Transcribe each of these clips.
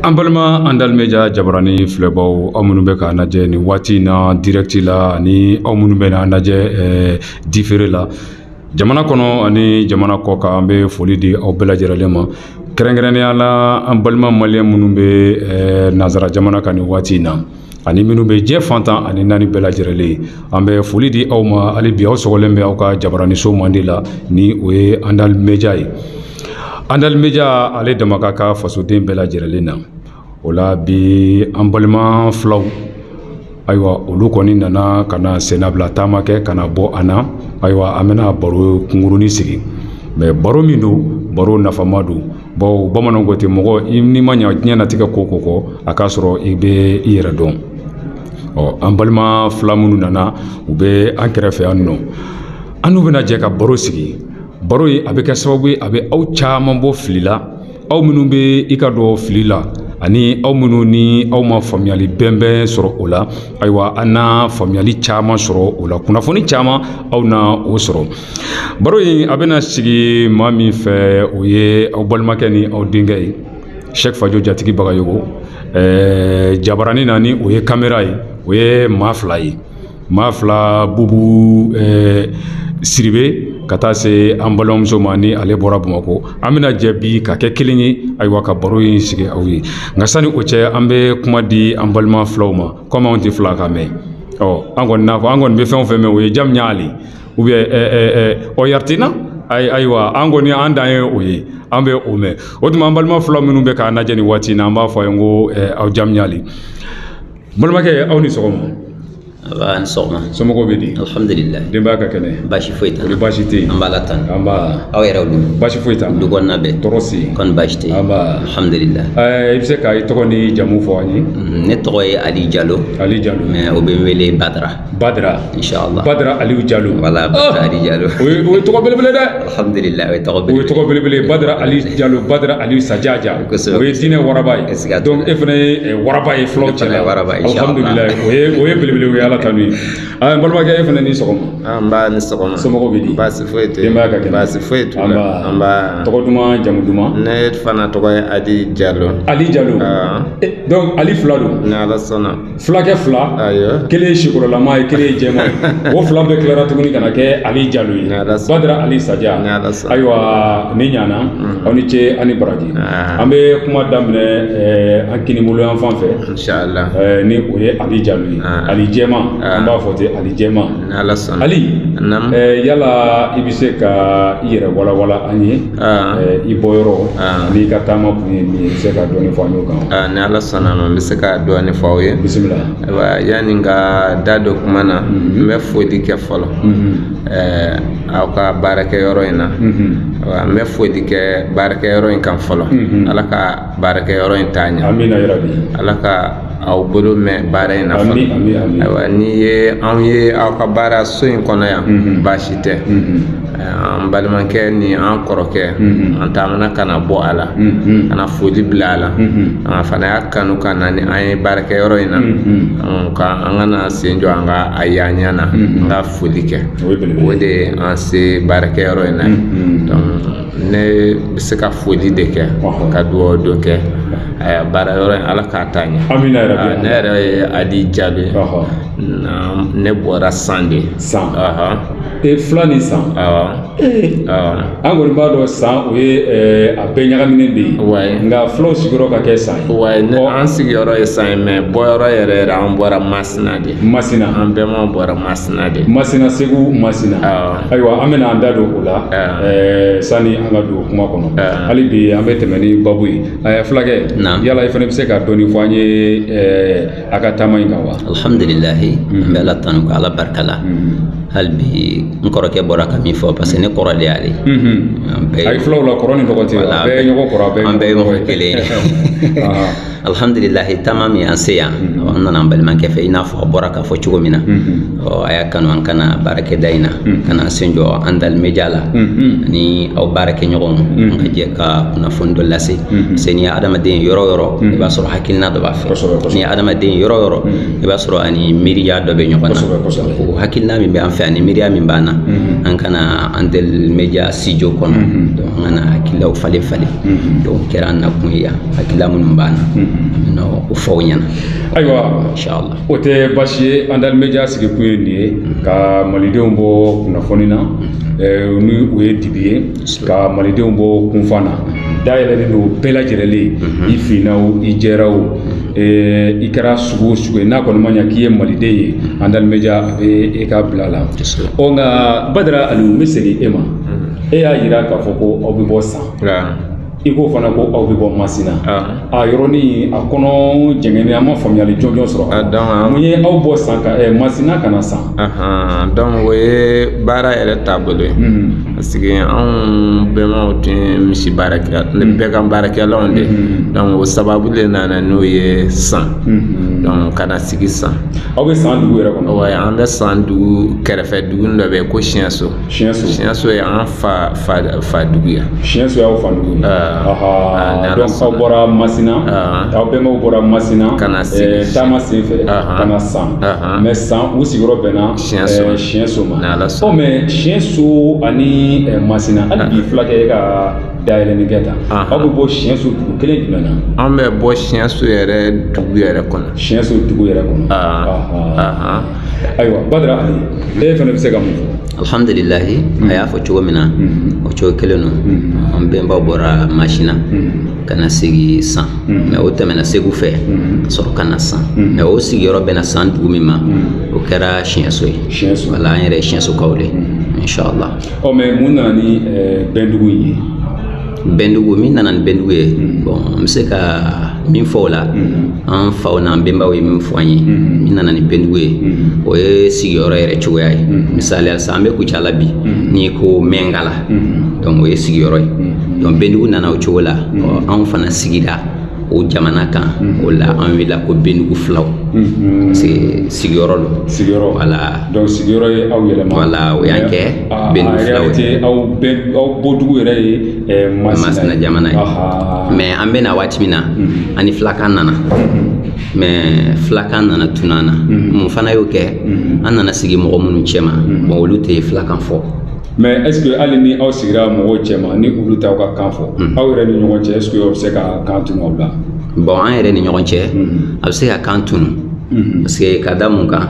an balima andali meja jabarani filɛbaw aw minnu bɛ k'an lajɛ nin waati in na dirɛkiti la ani aw minnu bɛ n'an lajɛ difeere la jamana kɔnɔ ani jamana kɔkan an bɛ foli di aw bɛɛ lajɛrɛlen ma kɛrɛnkɛrɛnnenya la an balima maliyɛn minnu bɛ nanzara jamana kan nin waati in na ani minnu bɛ diɲɛ fan tan ani naani bɛɛ lajɛrɛlen ye an bɛ foli di aw ma hali bi aw sɔgɔlen bɛ aw ka jabaraniso mandi la ni o ye andali meja ye andali meja ale dama ka ka fasoden bɛɛ lajɛrɛlen na o la bi an balima filaw ayiwa olu kɔni nana ka na sennabila taama kɛ ka na bɔ an na ayiwa an bɛna baro kunkurunin sigi mɛ baro min don baro nafama don bawo bamananw ko ten mɔgɔ n'i ma ɲa diɲɛ natigɛ ko ko kɔ a k'a sɔrɔ i bɛ i yɛrɛ dɔn ɔ an balima fila minnu nana u bɛ an kɛrɛfɛ yan nɔ an n'u bɛna jɛ ka baro sigi baro in a bɛ kɛ sababu ye a bɛ aw caman bɔ fili la aw minnu bɛ i ka dɔ fili la ani aw minnu ni aw ma faamuyali bɛnbɛn sɔrɔ o la ayiwa an na faamuyali caman sɔrɔ o la kunnafoni caman aw na o sɔrɔ baro in a bɛna sigi maa min fɛ o ye aw balimakɛ ni aw denkɛ ye sɛki fajo jatigi bagayogo ɛɛ jabarani na ni o ye kamera ye o ye maa fila ye maa fila bubu ɛɛ sidibe ka taa se an balimamuso ma ni ale bɔra bamakɔ an bɛna jɛ bi ka kɛ kelen ye ayiwa ka baro in sigi aw ye nka sani o cɛ an bɛ kuma di an balima filaw ma komi anw tɛ filakan mɛn ɔ an kɔni n'a fɔ an kɔni bɛ fɛn o fɛn mɛn o ye jam ɲali ou bien ɔyariti na ayiwa an kɔni an dan ye o ye an bɛ o mɛn o tuma an balima fila minnu bɛ k'an lajɛ nin waati in na an b'a fɔ a ye n ko aw jam ɲali balimakɛ aw ni sɔgɔma nba sɔgɔma somɔgɔw bɛ di alihamudulila denbaya ka kɛnɛ baasi foyi t'a la baasi tɛ yen an b'ala tanu nba aw yɛrɛ dun baasi foyi t'an du kɔnɔna bɛɛ tɔɔrɔ si kɔni baasi tɛ yen nba alihamudulila ɛɛ i bɛ se ka i tɔgɔ ni jamu fɔ an ye ne tɔgɔ ye ali jalo ali jalo mɛ o bɛ n wele badara badara inshallah badara aliou jalo wala badara ah! ali jalo o ye o ye tɔgɔ belebele dɛ alhamdulillah o ye tɔgɔ belebele o ye tɔgɔ belebele badara ali jalo badara aliou sajaja o ye diinɛ waraba ye donc e fana ye eh, waraba ye fulaw cɛla waraba alhamdulillah o ye o ye belebele o ye ala tanu ye an balimakɛ e fana ni sɔgɔma nba ni sɔgɔma somɔgɔw bɛ di baasi foyi tɛ denbaya ka kɛnɛ baasi foyi t'u la nba tɔgɔ duman jamu duman ne fana tɔgɔ ye ali jalo ali jalo ah. eh, donc ali fila don ni ala sɔnna filakɛ fila kelen ye sikorolama ye kelen ye jɛma ye o fila bɛɛ tilara tuguni ka na kɛ ali jalo ye badara ali saja ayiwa ni ɲana aw ni ce ani baraji an bɛ kuma daminɛ an kinibolo yan fan fɛ ni o ye ali jalo ye ali jɛma an b'a fɔ ten ali jɛma ali yala i bɛ se ka i yɛrɛ walawala an ye Ah. Eh, i bɔyɔrɔ an'i ka taama kun ye min ye i bɛ se ka dɔɔni fɔ an y'o kan ah, ni ala sɔnna ma n bɛ se ka dɔɔni fɔ aw ye bisimila ayiwa yanni ka da don kuma na mhm. n bɛ foli kɛ fɔlɔ mhm. eh, aw ka baarakɛyɔrɔ in na mhm. ayiwa n bɛ foli kɛ baarakɛyɔrɔ in kan fɔlɔ ala ka baarakɛyɔrɔ in taa ɲɛ amina yarabi ala ka aw bolo mɛn baara in na fana Ami, ami, ami. ayiwa n'i ye anw ye aw ka baara so in kɔnɔ yan Mhm. baasi tɛ Mhm. Eh, an balimakɛ ni an kɔrɔkɛ Mhm. an taamana ka na bɔ a la Mhm. ka na foli bila a la Mhm. an fana y'a kanu ka na ni an ye baarakɛyɔrɔ in na Mhm. an ka an ka na sen jɔ an ka a y'an ɲɛ na Mhm. an ka foli kɛ O ye belebele ye. o de ye an se baarakɛyɔrɔ in na ye. Mhm. Donc, ne bɛ se ka foli de kɛ ka dugawu dɔ kɛ baarayɔrɔ in ala k'a taa ɲɛ ne yɛrɛ ye ali jalo ye ne bɔra san de san e fila ni san an kɔni b'a dɔn san o ye a bɛɛ ɲagaminen de ye nka fulaw sigiyɔrɔ ka kɛ san ye wa ne an sigiyɔrɔ ye san ye mais bɔyɔrɔ yɛrɛ yɛrɛ an bɔra masina de masina an bɛma bɔra masina de masina segu masina ayiwa an bɛna an da don o la ah. eh, sani an ka don kuma kɔnɔ ah. hali bi an bɛ tɛmɛ ni babu ye eh, fulakɛ yala i fana bɛ se ka dɔɔni fɔ an ye eh, a ka taama in kan wa alhamdulilahi mm-hmm. an bɛ ala tanu ka ala barika la mm-hmm. hali bi n kɔrɔkɛ bɔra ka min fɔ parce que ne kɔrɔ de y'ale mm-hmm. a ye filaw la kɔrɔ ni dɔgɔ tɛ bɛɛ ye ɲɔgɔn kɔrɔ an bɛɛ ye mɔgɔ kelen ye ah. alhamdulilahi taama min an se yan an nana an balimakɛ fɛ i n'a fɔ a bɔra k'a fɔ cogo min na a y'a kanu an ka na baarakɛda in na ka na sen jɔ andal media la ani aw baarakɛɲɔgɔnw an ka jɛ ka kunnafoni dɔ lase se n'i ye adamaden yɔrɔ o yɔrɔ i b'a sɔrɔ hakilina dɔ b'a fɛ n'i ye adamaden yɔrɔ o yɔrɔ i b'a sɔrɔ a ni miiriya dɔ bɛ ɲɔgɔn na o hakilina min bɛ an fɛ ani miiriya min b'an na an ka na andal media studio kɔnɔ an ka na hakililaw falen falen donc kɛra an nakun ye yan hakilila minnu b'an na an bɛna o fɔ aw ɲɛna ayiwa inshallah o tɛ baasi ye andal media sigikun ye nin ye ka malidenw bɔ kunnafoni na ɛɛ ni o ye dibi ye ka malidenw bɔ kunfan na dayɛlɛlen don bɛɛ lajɛlen ye i finna o i jɛra o ɛɛ i kɛra sugu o sugu ye n'a kɔni ma ɲa k'i ye maliden ye andal media a bɛ e ka bila la ɔ nka badara aliyu n bɛ segin e ma e y'a yira k'a fɔ ko aw bɛ bɔ san i ko fana ko aw bɛ bɔ masina a yɔrɔnin a kɔnɔ jɛngɛnen an ma faamuyali jɔnjɔn sɔrɔ a dɔn mun ye aw bɔ san ka eh, masina ka na san donc o ye baara yɛrɛ taabolo ye hmm. parce que anw bɛnbaw tun ye misi baara kɛ hmm. bɛgan baarakɛlaw de hmm. donc o sababu de nana n'o ye san donc ka na sigi san aw bɛ san dugu yɛrɛ kɔnɔ wa an bɛ san dugu kɛrɛfɛ dugu dɔ bɛ yen ko siɲɛso siɲɛso siɲɛso ye an fa fa fa dugu ye siɲɛso y'aw fa dugu ye ah, donc aw bɔra masina ah. aw bɛnbaw bɔra masina ka na eh, taama sen fɛ ah, ka na san mais san u sigiyɔrɔ bɛnna siɲɛso eh, ma ɔ mais siɲɛso ani eh, masina hali bi fulakɛ ka dayɛlɛni kɛ tan aw bɛ bɔ siɲɛso dugu kelen jumɛn na an bɛ bɔ siɲɛso yɛrɛ dugu yɛrɛ kɔnɔ siɲɛso dugu yɛrɛ kɔnɔ ayiwa badara e fana bɛ se ka mun fɔ alhamdulilahi a y'a fɔ cogo min na o cogo kelen don an bɛnbaw bɔra masina ka na sigi san mais o tɛmɛna segu fɛ ka sɔrɔ ka na san mais o sigiyɔrɔ bɛnna san dugu min ma o kɛra siɲɛso ye Siɲɛso. voilà an yɛrɛ ye siɲɛsokaw de ye inshallah ɔ mais mun nana ni ɛɛ, bɛndugu in ye bɛndugu min nana ni bɛndugu ye bon n bɛ se ka min fɔ o la an faw n'an bɛnbaw ye min fɔ an ye min nana ni bɛndugu ye o ye sigiyɔrɔ yɛrɛ cogoya ye misaliya sisan an bɛ kucala bi n'i ko mɛngala donc o ye sigiyɔrɔ ye donc bɛndugu nana o cogo la anw fana sigira o jamana kan o la an welela ko bɛndugu filaw parce que sigiyɔrɔ don sigiyɔrɔ voilà donc sigiyɔrɔ ye aw yɛlɛma voilà o y'an kɛ bɛndugu filaw ye aw bɛɛ aw bɔdugu yɛrɛ ye eh, masina jamana ye mais an bɛ na waati min na mhm. an ni filakan nana mhm. mais filakan nana tunu an na mhm. mun fana y'o kɛ an nana sigi mɔgɔ minnu cɛma bon olu tɛ filakan fɔ mais est ce que hali ni aw sigira mɔgɔw cɛma ni olu t'aw ka kan fɔ aw yɛrɛ ni ɲɔgɔn cɛ est ce que aw bɛ se ka kan tunu aw la bon an yɛrɛ ni ɲɔgɔn cɛ a bɛ se ka kan tunu parce que ka da mun kan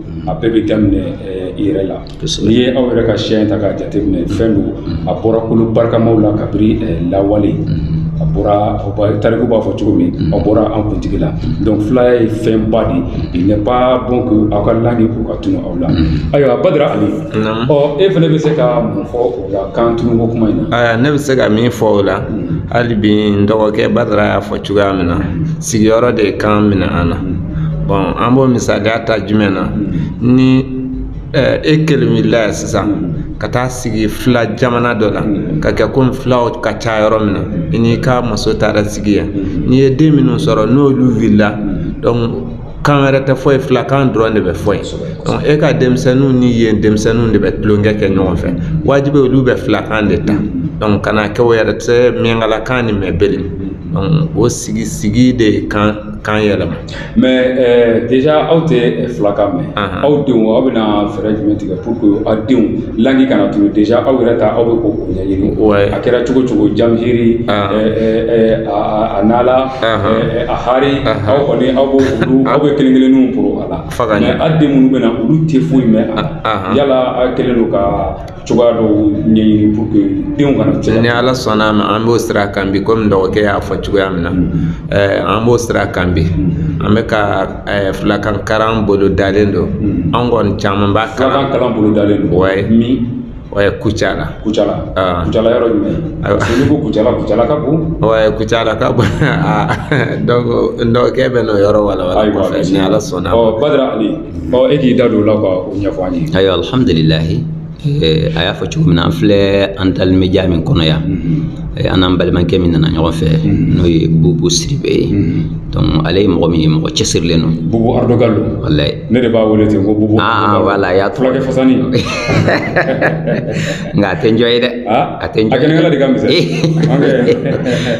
a bɛɛ bɛ daminɛ i yɛrɛ la n'i ye aw yɛrɛ ka siya in ta k'a jateminɛ fɛn don a bɔra kolo barikamaw la kabiri lawale a bɔra tariku b'a fɔ cogo min a bɔra an kuntigi la donc filaya ye fɛnba de il n'est pas bon que aw ka langue k'o ka tunu aw la ayiwa Badara Ali ɔ e fana bɛ se ka mun fɔ kan tunu ko kuma in na ne bɛ se ka min fɔ o la hali bi n dɔgɔkɛ badara y'a fɔ cogoya min na sigiyɔrɔ de ye kan minɛ an na bon an b'o misaliya ta jumɛn na ni eh, e kelen wulila yan sisan ka taa sigi fila jamana dɔ la ka kɛ komi filaw ka ca yɔrɔ min na i n'i ka muso taara sigi yen n'i ye den minnu sɔrɔ n'olu wulila donc kan wɛrɛ tɛ fɔ yen filakan dɔrɔn de bɛ fɔ yen donc e ka denmisɛnninw ni yen denmisɛnninw de bɛ tulonkɛ kɛ ɲɔgɔn fɛ wajibi olu bɛ filakan de ta donc kana kɛ o yɛrɛ tɛ miyankalakan ni mɛbele donc o sigi sigi de ye kan kan yɛlɛma mais eh, déjà aw tɛ filakan mɛn aw denw aw bɛna fɛɛrɛ jumɛn tigɛ pour que aw denw langue kana tunun déjà aw yɛrɛ ta aw bɛ k'o ɲɛɲini a kɛra cogo cogo jamhiri eh, eh, a nala eh, a hari aw kɔni aw b'o olu aw bɛ kelen kelenninw poro a la mais aw den minnu bɛ na olu tɛ foyi mɛn a la yala aw kɛlen don ka cogoya dɔw ɲɛɲini pour que denw kana cɛn ni ala sɔnna ma an b'o sira kan bi komi dɔgɔkɛ y'a fɔ cogoya min na mm-hmm. eh, an b'o sira kan bi mm-hmm. an bɛ ka eh, filakan kalan bolodalen don mm-hmm. an kɔni caman b'a kalan kalan bolodalen don wayi Ouais, Kucala. Kucala. Ah. Kucala yɔrɔ jumɛn? Ayiwa. Parce que n'i ko Kucala, Kucala ka bon. Ouais, Kucala ka bon. Ah, donc, donc k'e bɛ n'o yɔrɔ walawala Ayiwa, kɔfɛ ni Ala sɔnna. Ɔ Badara Ali, ɔ e k'i da don o la ka o ɲɛfɔ an ye. Ayiwa, alhamdulilahi. Eh, a y'a fɔ cogo min na an filɛ an dali media min kɔnɔ yan eh, an n'an balimakɛ min nana ɲɔgɔn fɛ n'o ye Bubu Sidibe ye donc ale ye mɔgɔ min ye mɔgɔ cɛsirilen don Bubu Ardo Galo. walayi ne de b'a wele ten ko bubu ah, ah voilà y'a to fulakɛ fasani nka a tɛ njɔ ye dɛ ah, a tɛ njɔ ye a kɛnɛkala de ka misɛn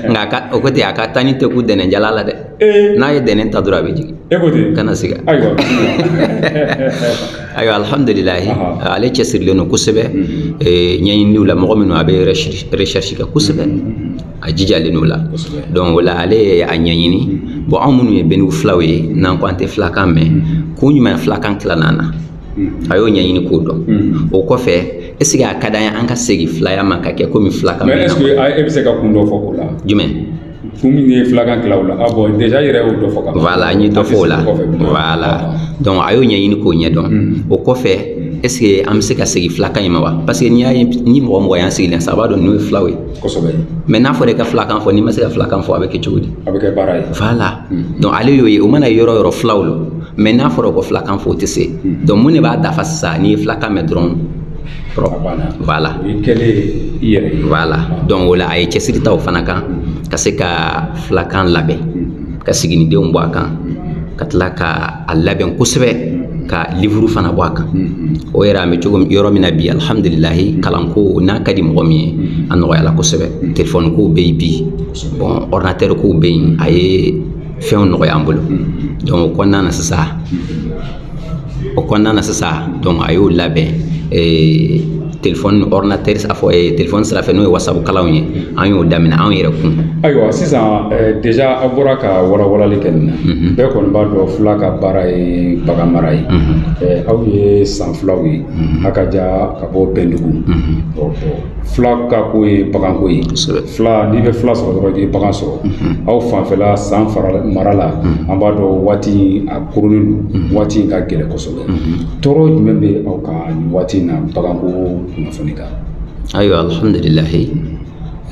nka ka o ko ten a ka taa ni teku dɛnɛnjala la dɛ eh. n'a ye dɛnɛn ta dɔrɔn a bɛ jigin e ko ten kana siga ayiwa ayiwa alhamdulilahi ale cɛsirilen don kosɛbɛ mhm. eh, ɲɛɲininiw la mɔgɔ minnu a bɛ recherche kɛ kosɛbɛ mhm. a jijalen don o la donc o la ale ye a ɲɛɲini bon anw minnu ye beniw filaw ye n'an ko an tɛ filakan mɛn kun jumɛn filakan tilala an na a y'o ɲɛɲini k'o dɔn o kɔfɛ est ce que a ka d'an ye an ka segin filaya ma ka kɛ komi filakan mɛn est ce que e bɛ se ka kun dɔ fɔ o la jumɛn kun min ye filakan tila o la a bon déjà yɛrɛ y'o dɔ fɔ ka voilà n ye dɔ fɔ o la voilà donc a y'o ɲɛɲini k'o ɲɛdɔn o kɔfɛ est ce que an bɛ se ka segin filakan in ma wa parce que n'i y'a ye ni mɔgɔ mɔgɔ y'an sigilen sa a b'a dɔn ninnu ye filaw ye kosɛbɛ mais n'a fɔra i ka filakan fɔ n'i ma se ka filakan fɔ a bɛ kɛ cogo di a bɛ kɛ baara ye voilà hmm. donc ale y'o ye o mana yɔrɔ yɔrɔ filaw lo mais n'a fɔra ko filakan fɔ o tɛ se hmm. donc mun de b'a dafa sisan n'i ye filakan mɛn dɔrɔn voilà voilà donc o la a ye cɛsiri ta o fana kan hmm. ka se ka filakan labɛn ka siginidenw bɔ a kan ka tila ka a labɛn kosɛbɛ ka livuru fana bɔ a kan o yɛrɛ an bɛ cogo yɔrɔ min na bi alihamudulilayi kalanko n'a ka di mɔgɔ min ye a nɔgɔyala kosɛbɛ telefɔni kow bɛ yen bi bon ɔridinatɛri kow bɛ yen a ye fɛnw nɔgɔya an bolo donc o kɔnɔna na sisan o kɔnɔna na sisan donc a y'o labɛn eh, telefɔni ordinateur a fɔ eh, telefɔni sira fɛ n'o ye wasabu kalanw ye an y'o daminɛ anw yɛrɛ kun ayiwa sisan eh, deja a bɔra ka walawalali kɛ nin na mhm. bɛɛ kɔni b'a dɔn fila ka baara ye bagan mara ye mhm. aw ye san filaw ye mhm. a ka ja ka bɔ bɛndugu fila ka ko ye baganko ye fila n'i bɛ fila sɔrɔ dɔrɔn i bɛ bagan sɔrɔ aw fanfɛla san fara mara la an b'a dɔn waati a koronnen don waati in ka gɛlɛn kosɛbɛ tɔɔrɔ jumɛn bɛ aw kan nin waati in na baganko kunnafoni kan ayiwa alhamdulilahi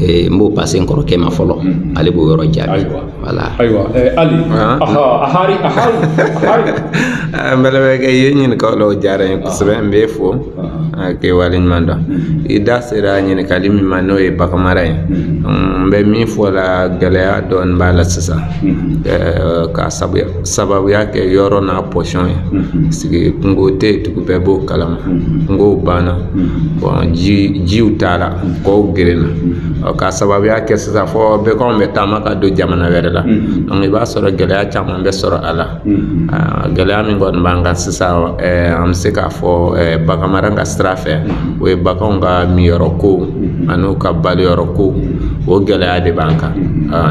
Eh, n b'o pase n kɔrɔkɛ ma fɔlɔ mm-hmm. ale b'o yɔrɔ jaabi wala ayiwa eh, ali ah. ahari n balimakɛ i ye ɲininkali o diyara n ye kosɛbɛ n b'e fo k'i waleɲuman dɔn i da sera ɲininkali min ma n'o ye baganmara ye n bɛ min fɔ la gɛlɛya dɔɔni b'a la sisan ka sababuya kɛ yɔrɔ n'a position ye parce que kungo tɛ yen tugu bɛɛ b'o kalama kungow banna bon ji jiw taara kɔw gerenna ɔ ka sababuya kɛ sisan fo baganw bɛ taama ka don jamana wɛrɛ la donc i b'a sɔrɔ gɛlɛya caman bɛ sɔrɔ a la gɛlɛya min kɔni b'an kan sisan an bɛ se k'a fɔ bagan mara ka sira fɛ o ye baganw ka minyɔrɔ ko an'u ka baloyɔrɔ ko o gɛlɛya de b'an kan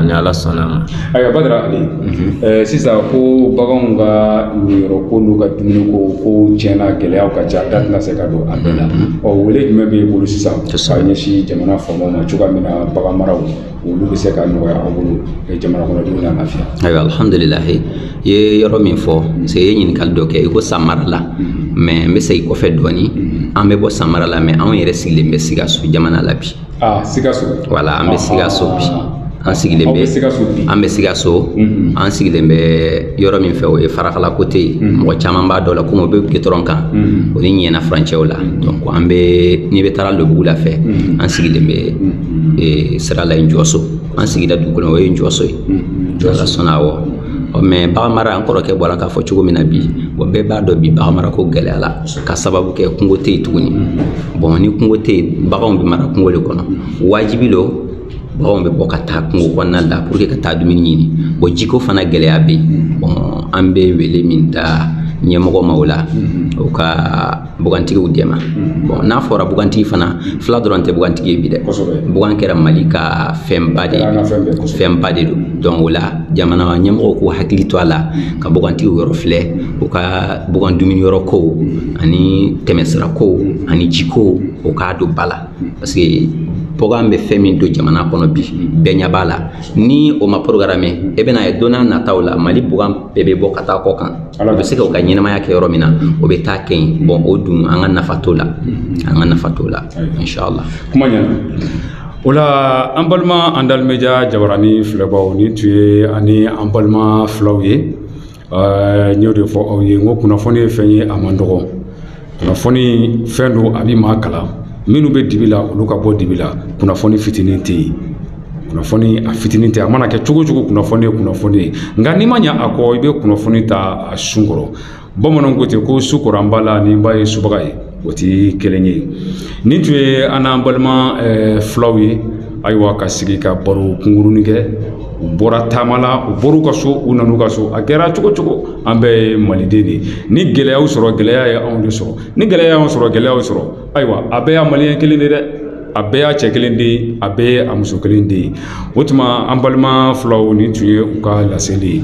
ni ala sɔnna a ma ayiwa badara ali sisan ko baganw ka minyɔrɔ ko n'u ka dumuni ko ko tiɲɛ na gɛlɛyaw ka ca da tɛna se ka don a bɛɛ la ɔ wele jumɛn b'i bolo sisan ka ɲɛsin jamana faamaw ma cogoya min na bagan maraw olu bɛ se ka nɔgɔya aw bolo jamana kɔnɔdenw na lafiya ayiwa alhamdulilahi i ye yɔrɔ min fɔ parce que i ye ɲininkali dɔ kɛ i ko san mara la mm-hmm. mɛ n bɛ segin kɔfɛ dɔɔni mm-hmm. an bɛ bɔ san mara la mɛ anw yɛrɛ sigilen bɛ sikaso jamana la bi ah, sikaso wala an bɛ ah, sikaso bi ah, an sigilen bɛ an bɛ sikaso mm-hmm. an sigilen bɛ yɔrɔ min fɛ o ye farakala kote ye mɔgɔ caman b'a dɔn la komi o bɛ gitɔrɔn kan o ni ɲiɛna furancɛw la donc an bɛ n'i bɛ taara lobugula fɛ an sigilen bɛ ee sira la ye jɔso an sigida dugukolo o ye jɔso ye ala sɔnna awɔ ɔ mɛ baganmara an kɔrɔkɛ bɔra k'a fɔ cogo min na bi bɔn bɛɛ b'a dɔn bi baganmara ko gɛlɛyala ka sababu kɛ kungo tɛ yen tuguni bɔn ni kungo tɛ yen baganw bɛ mara kungo de kɔnɔ wajibi lo baganw bɛ bɔ ka taa kungo kɔnɔna la pour que ka taa dumuni ɲini bɔn jiko fana gɛlɛya bɛ yen bɔn an bɛ wele min da ɲɛmɔgɔ ma o la o ka bugantigiw dɛmɛ mm-hmm. bon n'a fɔra bugantigi fana fila dɔrɔn tɛ bugantigi ye bi dɛ bugan kɛra mali ka fɛnba de fɛnba de don donc o la jamana ɲɛmɔgɔw k'u hakili to a la ka bugantigiw yɔrɔ filɛ u ka bugan dumuni yɔrɔ kow ani tɛmɛsira kow ani jikow o k'a don ba la parce que bugan bɛ fɛn min don jamana kɔnɔ bi bɛɛ ɲɛ b'a la ni o ma programmé i bɛna a ye don nataw la mali bagan bɛɛ bɛ bɔ ka taa kɔ kan o bɛ se ka u ka ɲɛnamaya kɛ yɔrɔ min na o bɛ taa kɛ yen bon o dun an ka nafa t'o la an ka nafa t'o la inshallah kuma ɲɛna o la an balima Andal Media jabaranin filɛbaw nin tun ye an ni an balima filaw ye Ɛɛ n y'o de fɔ aw ye n ko kunnafoni ye fɛn ye a man dɔgɔ kunnafoni fɛn don a bɛ maa kalan minnu bɛ dibi la olu ka bɔ dibi la kunnafoni fitinin tɛ yen kunnafoni a fitinin tɛ a mana kɛ cogo cogo kunnafoni ye kunnafoni ye nka n'i ma ɲɛ a kɔ i bɛ kunnafoni ta a sun kɔrɔ bamananw ko ten ko su kora n ba la ni n ba ye subaga ye o tɛ kelen ye nin tun ye an n'an balima fulaw ye ayiwa ka sigi ka baro kunkurunin kɛ u bɔra taama la u bɔr'u ka so u nan'u ka so a kɛra cogo cogo an bɛɛ ye maliden de ye ni gɛlɛya y'u sɔrɔ gɛlɛya ye anw de sɔrɔ ni gɛlɛya y'anw sɔrɔ gɛlɛya y'u sɔrɔ ayiwa a bɛɛ y'a maliyɛn kelen de dɛ a bɛɛ y'a cɛ kelen de ye a bɛɛ ye a muso kelen de ye o tuma an balima fulaw nin tun ye u ka laseli ye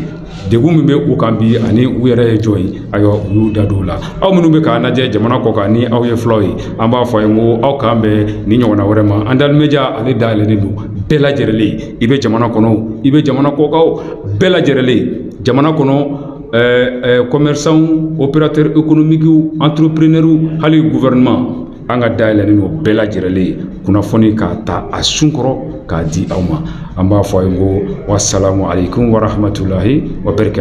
degun min bɛ u kan bi ani u yɛrɛ ye jɔn ye ayiwa u y'u da don o la aw minnu bɛ k'an lajɛ jamana kɔ kan ni aw ye fulaw ye an b'a fɔ aw ye n ko aw k'an bɛn nin ɲɔgɔnna wɛrɛ ma Andal Media ale dayɛlɛlen don bɛɛ lajɛrɛlen ye i bɛ jamana kɔnɔ o, i bɛ jamana kɔkan o bɛɛ lajɛrɛlen ye jamana kɔnɔ ɛɛ ɛɛ commerçants opérateurs économiques entrepreneurs hali gouvernement an ka da yɛlɛlen don bɛɛ lajɛrɛlen ye kunnafoni k'a ta a sun kɔrɔ k'a di aw ma an b'a fɔ aw ye ko wasalamu aleykum warahmatulahi wabarakatu